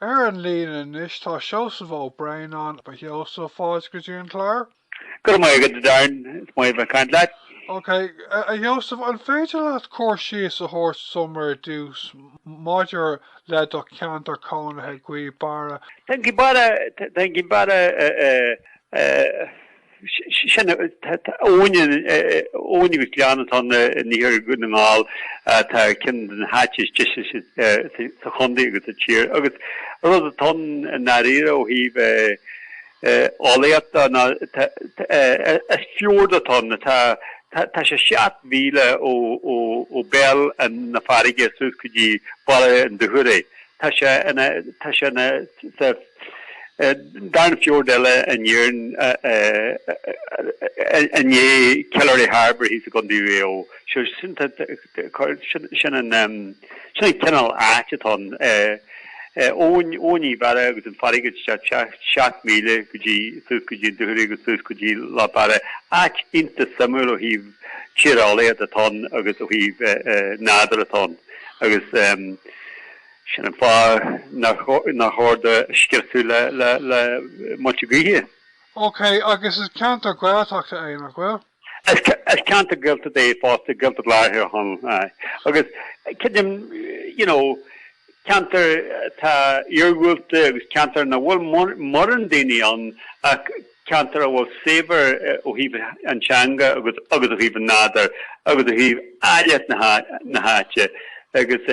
Ar an líne anois tá Seosamh Ó Braonáin. A Sheosaimh, fáilte go dtí an clár. Go raibh maith agat, a Darren. Is maith a bheith ag caint leat. OK, a Sheosaimh, an féidir leat cur síos a thabhairt dom ar dtús maidir le do cheantar cónaithe, Gaoth Beara? Tá Gaoth Beara, tá Gaoth Beara. Sin é. Abhainn, abhainn agus gleann atá in iarthar Dhún na nGall atá ar cheann de na háite is deise sa chontae agus sa tír agus an rud atá ann i ndáiríre ó thaobh eolaíochta is fiord atá ann. Tá sé seacht míle ó bhéal na farraige suas go dtí Baile an Dúchoraidh. Tá sé ina, tá sé ina, sa, darna fiord eile in Éirinn i ndiaidh Killary Harbour thíos i gContae Mhaigh Eo. Sin an cineál áit atá ann. Abhainn Ghaoth Beara agus an farraige isteach seacht míle go dtí, suas go dtí an Dúchoraidh agus suas go dtí Loch Beara. Áit iontach suimiúil ó thaobh tíreolaíocht atá ann agus ó thaobh nádúr atá ann agus. Sin an fáth nár chóir do scriosadh le muilte gaoithe. Ok, agus is ceantar Gaeltachta é, nach bhfuil? Is ceantar Gaeltachta é fosta, Gaeltacht Lár Thír Chonaill, aye. Agus creidim, you know, ceantar atá iargúlta agus ceantar nach bhfuil mórán daoine ann ach ceantar a bhfuil saibhir ó thaobh an teanga agus ó thaobh an nádúr agus ó thaobh áilleacht na háite agus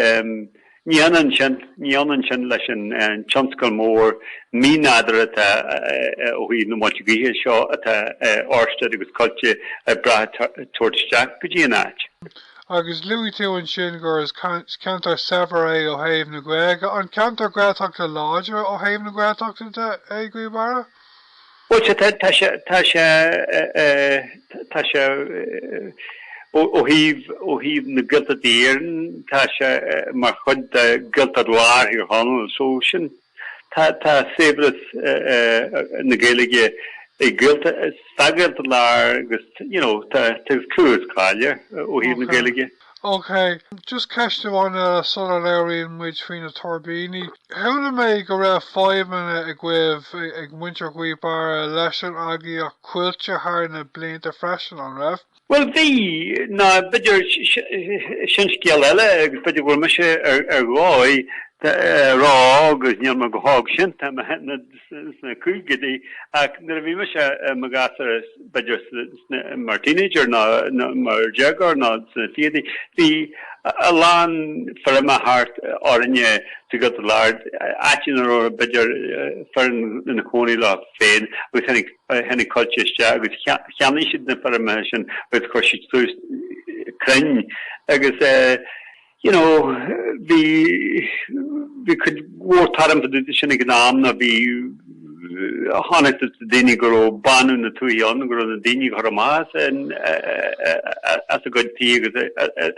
ní hionann sin ní hionann sin leis an tionscal mór mí-nádúr atá ó thaobh na muilte gaoithe seo atá Orsted agus Coillte ag brath a thabhairt isteach go dtí an áit. Agus luaigh tú ansin gur is ceantar saibhir é ó thaobh na Gaeilge, an ceantar Gaeltachta láidir ó thaobh na Gaeltachta de é, Gaoth Beara? Bhuel, sea, tá, tá sé, tá sé, tá sé, ó thaobh, ó thaobh na Gaeltachta de in Éirinn, tá sé mar chuid de Ghaeltacht Lár Thír Chonaill, so sin, tá, tá saibhreas na Gaeilge i nGaeltacht, sa Ghaeltacht Lár agus, you know, tá, tá clú is cáil air ó thaobh na Gaeilge. OK, just ceist amháin eile sula labhraíonn muid faoi na tuirbíní. Chuala mé go raibh fadhbanna agaibh, ag muintir Ghaoth Beara, leis an eagraíocht Coillte thar na blianta freisin, an raibh? Bhuel, bhí, ná b'fhéidir, sin scéal eile agus b'fhéidir go bhfuil mise ar dhóigh a rá agus níl mé go hóg sin, tá mé sna caogaidí, ach nuair a bhí mise i mo ghasúr, b'fhéidir mar teenager nó mar dhéagóir nó sna fichidí, bhí a lán feirme thart orainne sa Ghaeltacht Láir, áit ina raibh b'fhéidir fir ina gcónaí leo féin agus tháinig Coillte isteach agus cheannaigh siad na feirmeacha sin agus chuir siad suas crainn agus. You know, bhí, bhí cuid mhór tuairim fá dtaobh de sin ag an am, nó bhí, chonacthas do dhaoine go raibh bánú na tuaithe ann, go raibh na daoine á gcur amach as, as a gcuid tithe agus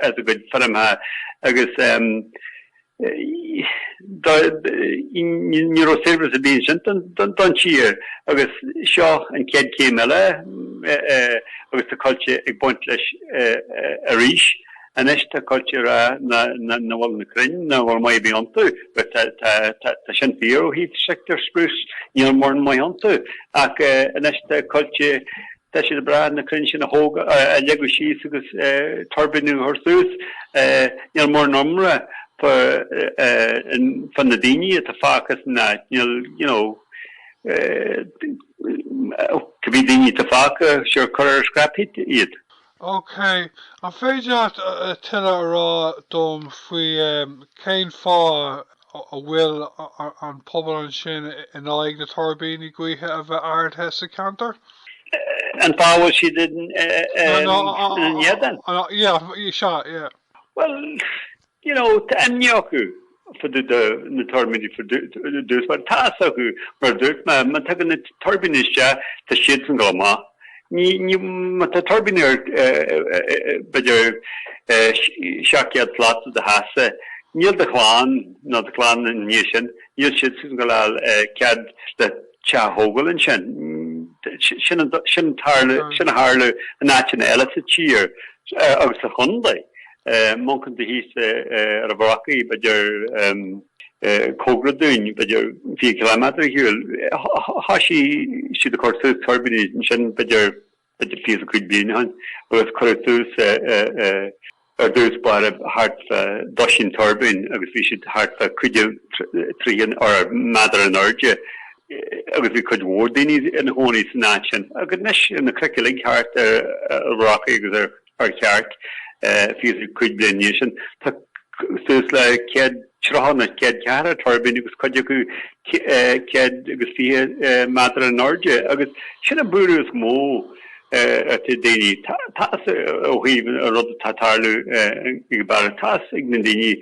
as a gcuid feirmeacha agus ní raibh seirbhís ar bith ansin don, don tír. Agus seo an chéad chéim eile agus tá Coillte ag baint leis arís. Anois tá Coillte ag rá nach bhfuil na crainn nach bhfuil maith ar bith iontu. Bhuel tá sin fíor ó thaobh Sitka spruce, níl mórán maith iontu. Ach anois tá Coillte, tá siad ag brath na crainn sin a thógáil, a leagadh síos agus tuirbíní a chur suas. Níl mórán iomrá fá na daoine atá fágtha san áit, níl you know, cibí daoine atá fágtha, sure cuir ar scrap heap iad. OK. An féidir leat tuilleadh a rá dom faoi cén fáth a bhfuil an pobal ansin in aghaidh na tuirbíní gaoithe a bheith ardaithe sa cheantar? Cén fáth a bhfuil siad ina éadan? Bhuel, you know tá imní acu fá na tuirbíní ar dtús mar tá fhios acu mar a dúirt mé má tagann na tuirbíní isteach tá siadsan ag gabháil amach ní má tá tuirbíní ar b'fhéidir seacht gcéad slat de do theachsa níl do chlann ná do chlann ina dhiaidh sin níl siadsan ag gabháil a fháil cead le teach a thógáil ansin sin sin tharla sin a tharla in áiteanna eile sa tír agus sa chondae e. Má amharcann tú thíos ar an Bhrocaigh, b'fhéidir cóngarach dúinn, b'fhéidir fiche ciliméadar ar shiúl. Thoisigh siad a chur suas tuirbíní ansin, b'fhéidir fiche is a cúig bliana ó shin, agus cuireadh suas ar dtús báire thart fá dosaen tuirbín agus bhí siad thart fá cúig is tríocha méadar in airde agus bhí cuid mhór daoine ina chónaí san áit sin. Agus anois na cnoic uilig thart ar an Bhrocaigh agus ar. ar cheart, fiche is a cúig bliain ó shin. Tá suas le céad tríocha nó céad ceathracha tuirbín agus cuid acu céad agus fiche méadar in airde, agus sin an buaireamh is mó atá ag daoine. Tá's ó thaobh an rud atá ag tarlú i nGaoth Beara, tá's ag na daoine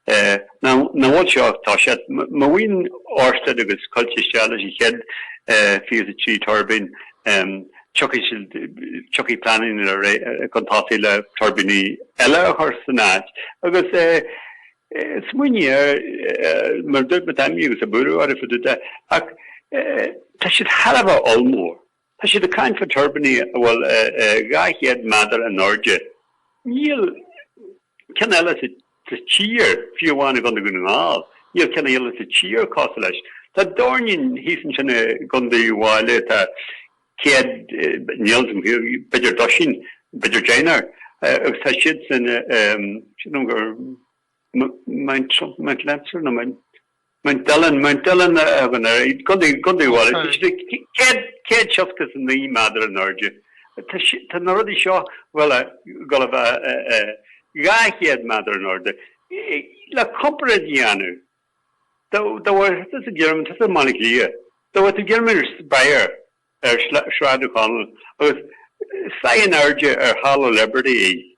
nach bhfuil seo, tá sé, má bhíonn Orsted agus Coillte isteach leis an chéad fiche a trí tuirbín, Tiocfaidh siad, tiocfaidh pleananna chun tosaigh le tuirbíní eile a chur san áit. Agus smaoinigh air, mar dúirt mé, tá imní agus buaireamh orthu fá dtaobh de, ach tá siad thar a bheith ollmhór. Tá siad ag caint fá tuirbíní a bhfuil 200 méadar in airde. Níl. ceann eile sa tír, fiú amháin i gCondae Dhún na nGall, níl ceann eile sa tír cosúil leis. Tá dornán thíos ansin i gCondae Uíbh Fhailí atá céad, níl fhios a'm, b'fhéidir dosaen, b'fhéidir deichniúr, agus tá siadsan, sílim gur Mount, Mount Lancer, nó Mount. Mount Dillon, Mount Dillon i gContae Uíbh Fhailí, céad seasca is a naoi méadar in airde. Tá na rudaí seo uilig ag gabháil a bheith dhá chéad méadar in airde. Le comparáid a dhéanamh, tabhair thíos déarfaidh mé, thíos i mBaile Átha Cliath, tabhair tú déarfaidh mé an Spire ar Shráid Uí Chonaill agus faigh an airde ar Halla Liberty.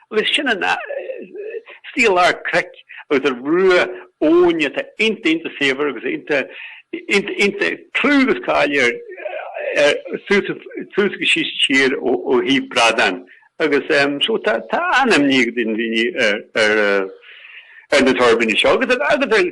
Agus sin an stíl ar cnoic agus ar bhruach abhainn atá iontach iontach saibhir agus iontach iontach iontach clú agus cáil air ar suas suas agus síos an tír ó ó thaobh bradán agus em so tá tá an-imní ag daoine ar ar ar na tuirbíní seo agus agus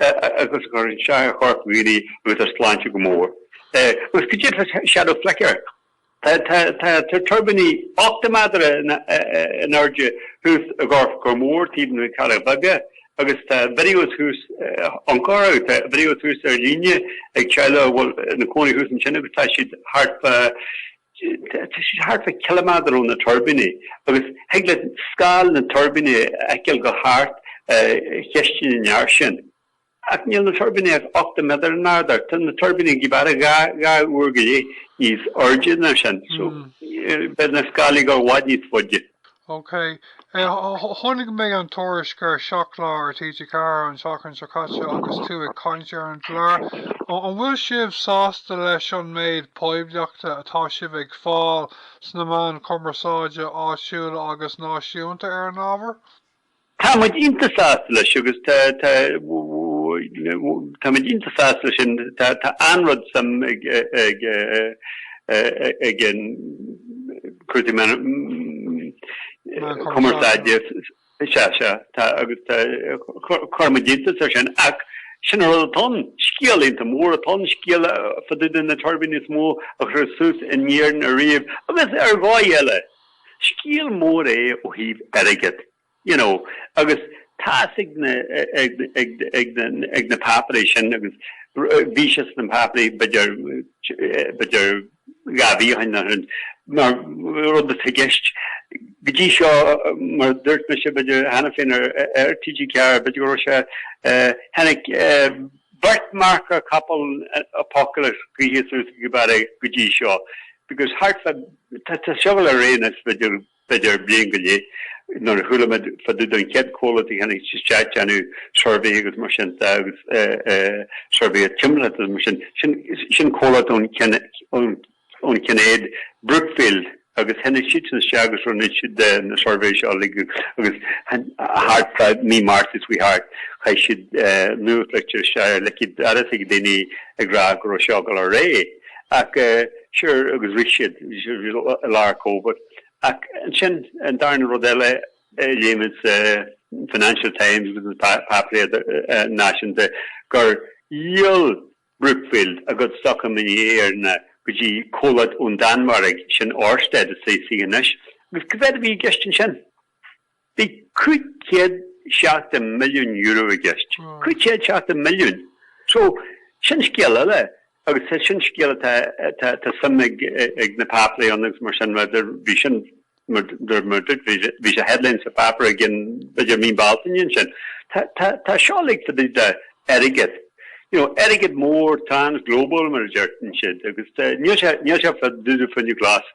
e agus a chuireann isteach ar choirp dhaoine agus ar sláinte go mór. e Agus go díreach Shadow Flicker, tá tá tuirbíní 80 méadar in airde thuas i gCorcar Mór, taobh amuigh de na Cealla Beaga, agus tá videos thuas ann a chara. Tá videos thuas ar líne ag teaghlaigh a bhfuil ina cónaí thuas ansin agus tá siad thart fá Tá siad thart fá chiliméadar ó na tuirbíní agus thig leat scáil na dtuirbíní a fheiceáil ag gabháil thart chistin an fhear sin. Ach níl na tuirbíní ach ochtó méadar in airde, tá na tuirbíní Ghaoth Beara dhá uair go leith níos airde ná sin, so beidh na scáilí i bhfad níos faide. OK. Chonaic mé an tuairisc ar Seacht Lá ar TG4 an tseachtain seo caite agus tú ag caint ar an gclár. An bhfuil sibh sásta leis an méid poiblíochta atá sibh ag fáil sna meáin chumarsáide áitiúla agus náisiúnta ar an ábhar? Tá muid iontach sásta leis agus tá tá tá muid iontach sásta leis an tá tá an-rud suim ag ag ag an Cúrsaí Meán Meán Cumarsáide. Cumarsáide. Sea, sea. Tá agus tá chuir muid iontas air sin ach sin an rud atá ann. Scéal iontach mór atá ann, scéal fá dtaobh de na tuirbíní is mó a chuir suas in Éirinn ariamh agus ar dháigh eile. Scéal mór é ó thaobh airgead. you know, agus tá's ag na, ag, ag, ag na, ag na páipéirí sin agus bhí sé sna páipéirí b'fhéidir, b'fhéidir dhá mhí ó shin nó rud, mar rud atá i gceist go dtí seo mar a dúirt mise b'fhéidir cheana féin ar, ar TG4 b'fhéidir go raibh sé tháinig beirt marcach capall apocalypse gaoithe suas Gaoth Beara go dtí seo because thart fá, tá, tá seo ag gabháil ar aghaidh anois b'fhéidir, b'fhéidir, bliain go leith. Nuair a chuala muid fá dtaobh den chéad chomhlacht a tháinig isteach déanamh suirbhé agus mar sin de agus suirbhé ar timpeallacht agus mar sin, sin comhlacht ón ón Cheanada, Brookfield, agus tháinig siadsan isteach agus rinne siad na suirbhé seo uilig agus thart fá mí Márta seo a chuaigh thart, chaith siad nuachtlitir isteach ar leicéid agus ag daoine ag rá go raibh seo ag gabháil ar aghaidh. Ach sure agus rith siad, bhí siad i lár Covid. Ach ansin, an darna rud eile a léigh muid sa Financial Times agus na páipéir náisiúnta, gur dhíol Brookfield a gcuid stoc in Éirinn go dtí comhlacht ón Danmhairg, sin Orsted, is é C anois. Agus cad é a bhí i gceist ansin? Bhí cúig chéad seachtó milliún euro i gceist. Cúig chéad seasca milliún! So, sin scéal eile agus tá sin scéal atá, tá, tá suim ag, ag na páipéirí ann agus mar sin, mar bhí sin, mar, mar, mar a dúirt, bhí sé, bhí sé headline sa pháipéar i gcionn, b'fhéidir Mí Bealtaine ansin. Tá, tá, tá seo uilig fá dtaobh de airgead, you know, airgead mór, trans-global mar a deireann siad agus níl sé, níl sé fá dtaobh de fuinneamh glas.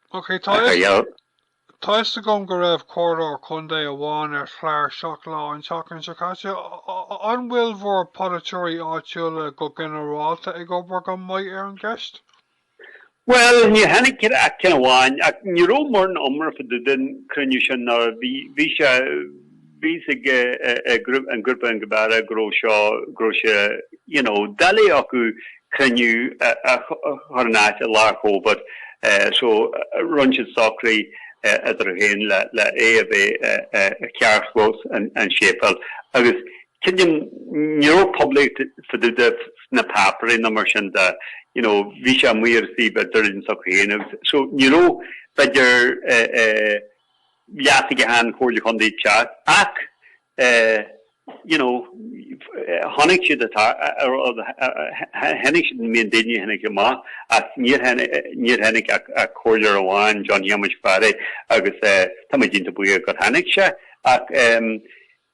Ok, tá a fhios agam go raibh comhairleoir contae amháin ar chlár Seacht Lá an tseachtain seo caite. An bhfuil bhur polaiteoirí áitiúla go ginearálta ag obair go maith ar an gceist? Bhuel, níor tháinig ach ceann amháin, ach ní raibh mórán iomrá fá dtaobh den cruinniú sin, nó bhí, bhí sé, bhí a fhios ag an grúpa i nGaoth Beara go raibh seo, go raibh sé you know doiligh acu cruinniú a chur in áit i lár Covid so rinne siad socrú idir féin le le é a bheith i charrchlós an séipéal agus cinnte ní raibh poiblíocht fá dtaobh de sna páipéirí nó mar sin de you know bhí sé amuigh ar an suíomh idirlín s'acu féin agus so ní raibh b'fhéidir eh eh leat aige an Chomhairle Chontae ag teacht ach you know chonaic siad atá tháinig siad I mean daoine tháinig amach ach níor tháinig níor tháinig ach ach comhairleoir amháin John Shéamuis Ó Fearraigh agus tá mé iontach buíoch gur tháinig sé ach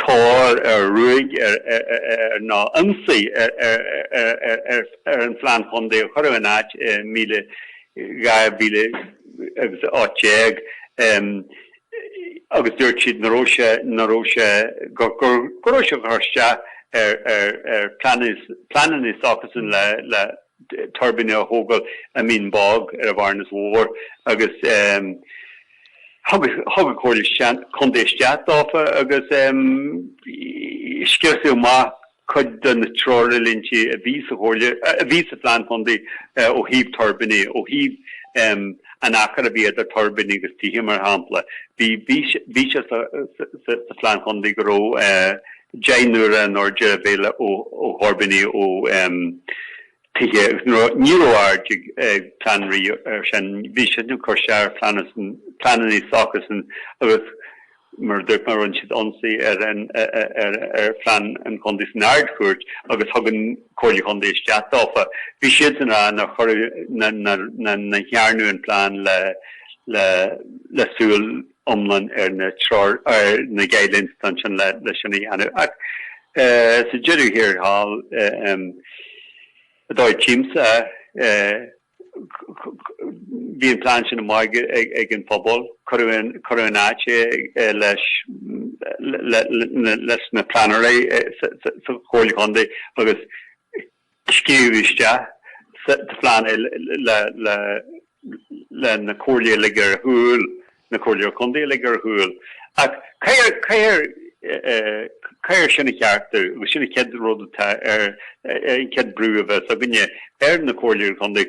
tóir ar ruaig ar nó ionsaí ar an Phlean Chontae a cuireadh in áit i míle dhá mhíle agus a ocht déag agus dúirt siad nach raibh sé nach raibh sé gur gur go raibh sé ag cur isteach ar ar ar pleanas pleananna s'acusan le le tuirbíní a thógáil i Mín Bog ar an Bhearnas Mhór agus Thug an Comhairle Contae isteach dófa agus scriosadh amach cuid de na treoirlínte a bhí sa Chomhairle, a bhí sa Phlean Chontae ó thaobh tuirbíní, ó thaobh an achair a bhí idir tuirbíní agus tithe, mar shampla. Bhí sé sa Phlean Chontae go raibh deich n-uaire an airde de bhealach ó thuirbíní ó tithe nó ní raibh aird ag Planree ar sin. Bhí siad ag cur isteach ar phleananna san pleananna s'acusan agus mar a dúirt mé rinne siad ionsaí ar an ar phlean an chontae san Ard Chúirt agus thug an Comhairle Chontae isteach dófa. Bhí siad ag rá nár chuir nach ndearnadh an plean le le le súil. iomlán ar na treoir, ar na guidelines don sin le le sin a dhéanamh. Ach sa deireadh thiar thall, an dóigh a tímse, bhí an plean sin amuigh ag an phobal. Cuireadh cuireadh in áit é leis le le le leis na pleanóirí sa Chomhairle Contae agus scríobhadh isteach sa phlean é le na Comhairlí a lig ar shiúl, na Comhairleoirí Contae a lig ar shiúl. Ach caithfear caithfear sin a cheartú agus sin an chéad rud atá ar an chéad brú a bheas againne ar na Comhairleoirí Contae,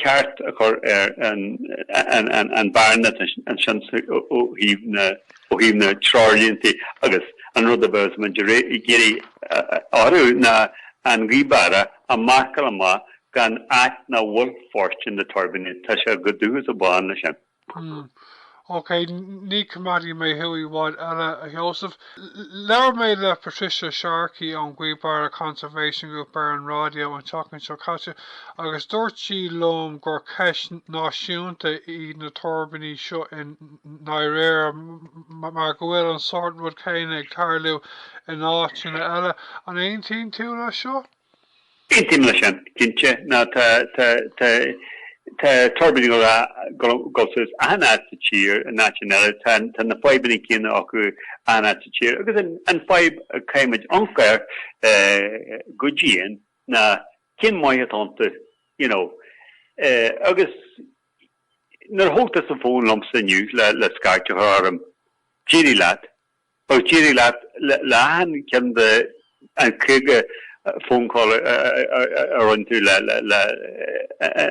ceart a chur ar an an an bhearna ansin ó thaobh na. ó thaobh na dtreoirlínte agus an rud a bheas muid ag iarraidh orthu ná an Gaoth Barra a mharcáil amach ina áit nach bhfuil fóirstean do thuirbíní. Tá sé chomh dubh agus chomh bán leis sin. Hm, ok, ní choimeádfaidh mé thú i bhfad eile, a Sheosaimh. Labhair mé le Patricia Sharkey ón Gaoth Barra Conservation Group ar an raidió an tseachtain seo caite agus dúirt sí liom gur ceist náisiúnta í na tuirbíní seo in i ndáiríre, mar go bhfuil an sórt rud céanna ag tarlú in áiteanna eile. An aontaíonn tú leis seo? Aontaím leis sin, cinnte. Nó tá, tá, tá, tá tuirbíní ag dul suas achan áit sa tír, in áiteanna eile, tá, tá na fadhbanna céanna acu achan áit sa tír. Agus an, an fadhb a chaithfimid amharc air, eh, go dian ná cén maith atá iontu, you know. Eh, agus. Nuair a thóg tusa an fón liomsa inniu le scairt a chur orm, d'éirigh leat, agus d'éirigh leat le achan ceann de an 50 phone call a rinne tú le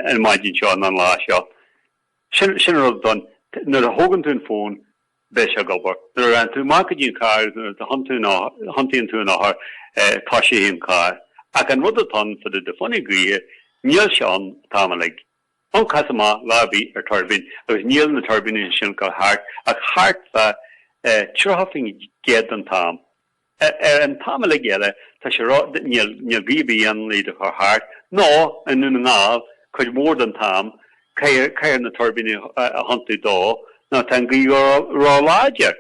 an maidin seo nó an lá seo. Sin sin an rud atá ann. Nuair a thógann tú an fón, beidh sé ag obair. Nuair a théann tú amach go dtí an carr agus nuair a thiontaíonn tú an eochair, tosaíonn an carr. Ach an rud atá ann fá dtaobh de fuinneamh gaoithe, níl sé ann an t-am uilig. Ón cás a mbeadh lá bith ar tuirbín agus níl na tuirbíní sin ag dul thart ach thart fa 30% den t-am. An t-am uilig eile tá sé ró níl gaoth bith ann le iad a chur thart, nó i nDún na nGall cuid mhór den t-am caithfear na tuirbíní a thiontú dó nó tá an gaoth ró láidir.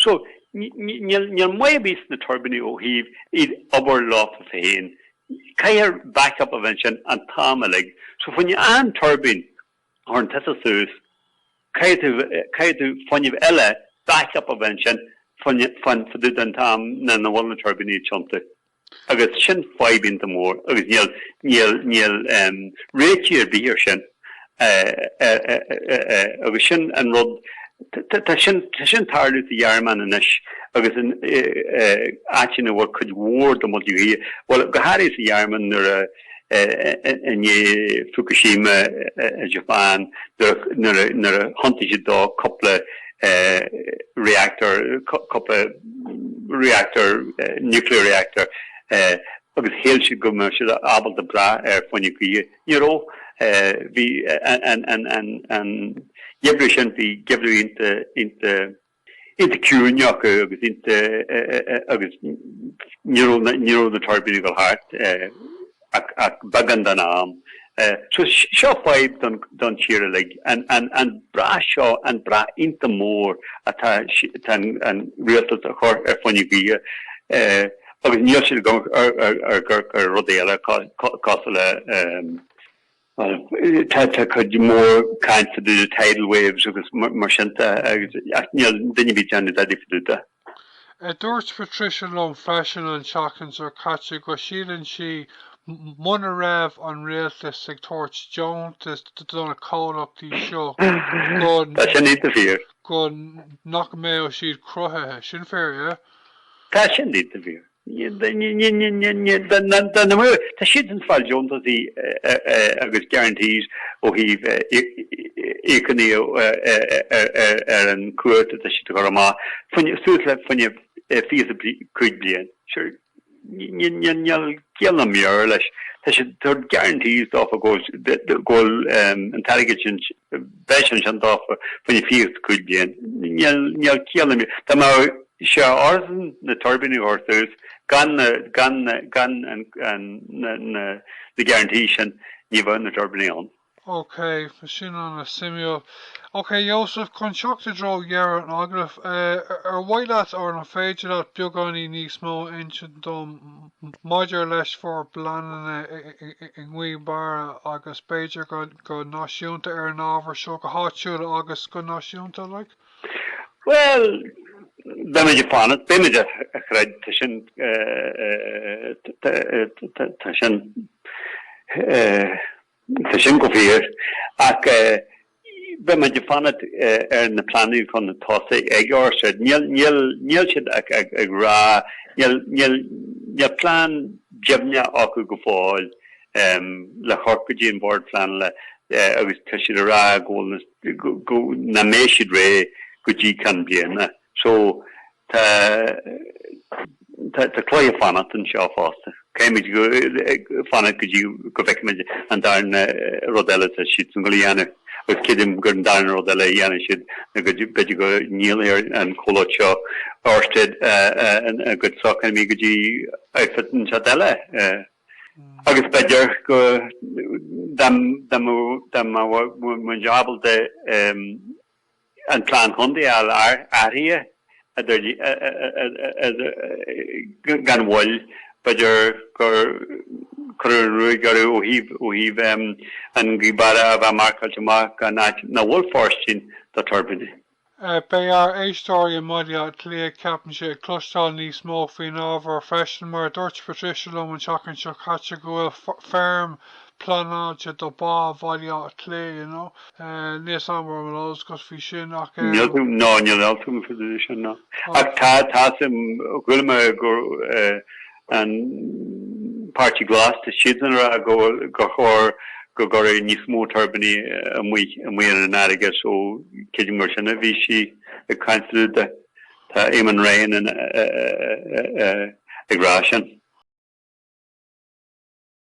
So, níl maith ar bith sna tuirbíní ó thaobh iad obair leofa féin. Caithfear backup a bheith ansin an t-am uilig. So, fá choinne aon tuirbín a chuireann tusa suas, caithfidh tú fuinneamh eile, backup a bheith ansin faoin, faoin, fá dtaobh den t-am nach bhfuil na tuirbíní ag tiontú. Agus sin fadhb iontach mór agus níl réiteach ar bith ar sin agus sin an rud, tá sin ag tarlú sa Ghearmáin anois agus in áiteanna a bhfuil cuid mhór de mhuilte gaoithe, bhuel go háirithe sa Ghearmáin nuair a. I ndiaidh Fukushima i Japan, nuair a thiontaigh siad dó cúpla reactor, cúpla reactor, nuclear reactor, agus shíl siad go mbeadh siad ábalta brath ar fuinneamh gaoithe, ní raibh. Bhí an geimhreadh sin, bhí geimhreadh ionta iontach ciúin acu agus ní raibh na ní raibh na tuirbíní ag dul thart ach ach beagán den am. So seo fadhb don don tír uilig, an an an brath seo, an brath iontach mór atá atá an rialtas a chur ar fuinneamh gaoithe agus níl siad ag amharc ar ar ar rudaí eile cosúil le Tá cuid mhór cainte faoi na tidal waves agus mar sin de agus ach níl duine ar bith ag déanamh dadaí fá dtaobh de. Dúirt Patricia liom freisin an tseachtain seo caite go síleann sí muna raibh an rialtas ag tabhairt deontais do na comhlachtaí seo go Tá sin déanta fíor. go nach mbeadh siad cruthaithe. Sin fíor, yeah. Tá sin déanta fíor. Tá siad ag fáil deontaisí agus guarantees ó thaobh íocaíocht ar an current atá siad a chur amach, suas le fá choinne fiche is cúig bliain. Sure, níl ciall ná meabhair leis, tá siad ag tabhairt guarantees dófa go bhfuil an t-airgead sin, bheadh sé ansin dófa, fá choinne fiche is cúig bliain. Níl ciall ná meabhair. Is é ar son na tuirbíní a chur suas, gan na, gan na, gan an, an, na, na, na guarantees sin, ní bheadh na tuirbíní ann. OK, bhí sin ana suimiúil. OK, a Sheosaimh, chun teacht i dtreo dheireadh an agallaimh, ar mhaith leat, or an féidir leat beagáinín níos mó a insint dom maidir le bhur bpleananna i nGaoth Beara agus b'fhéidir go náisiúnta ar an ábhar seo, go háitiúil agus go náisiúnta, like? Bhuel, beimid ag fanacht. Beimid a chreid, tá sin tá sin tá sin go fíor. Ach beimid ag fanacht ar na pleananna chun tosaigh ag ár side. Níl níl níl siad ag ag ag rá níl níl níl plean deimhneach acu go fóill. um, le theacht go dtí an Bord Pleanála agus tá siad a rá go bhfuil na, go, nach mbeidh siad réidh go dtí ceann bliana. So, tá, tá, tá cluiche fanacht anseo fosta. Caithfimid go, ag fanacht go dtí go bhfeicfimid an darna rud eile atá siadsan ag gabháil a dhéanamh. Agus creidim gur an darna rud eile a dhéanfaidh siad ná go dtí, b'fhéidir go ndíolfaidh an comhlacht seo, Orsted, a gcuid sócmhainní go dtí outfit inteacht eile. agus b'fhéidir go dá mbeadh muid ábalta an plean contae a athrú gan mhoill, b'fhéidir go gcuirfeadh an ruaig orthu ó thaobh Gaoth Beara a bheith marcáilte amach mar áit ina bhfuil fóirstean do tuirbíní. Beidh ár éisteoirí i mBaile Átha Cliath, ceapaimse, ag cloisteáil níos mó faoin ábhar freisin, mar a dúirt Patricia liom an tseachtain seo caite go bhfuil feirm pleanáilte do Bhá Bhaile Átha Cliath, you know. Níl a fhios agam ar mhaith leat labhairt faoi sin, ach eh. Níl tú, ná níl ann tú, an féidir leis sin, ná. Ach tá, tá, sim, ghoill mé gur eh, An Páirtí Glas, tá siadsan ag rá gur chóir go gcuirfí níos mó tuirbíní amuigh ar an fharraige so cé go mb'fhéidir gur sin a bhí sí ag caint faoi dtaobh de, tá Eamon Ryan ag rá sin.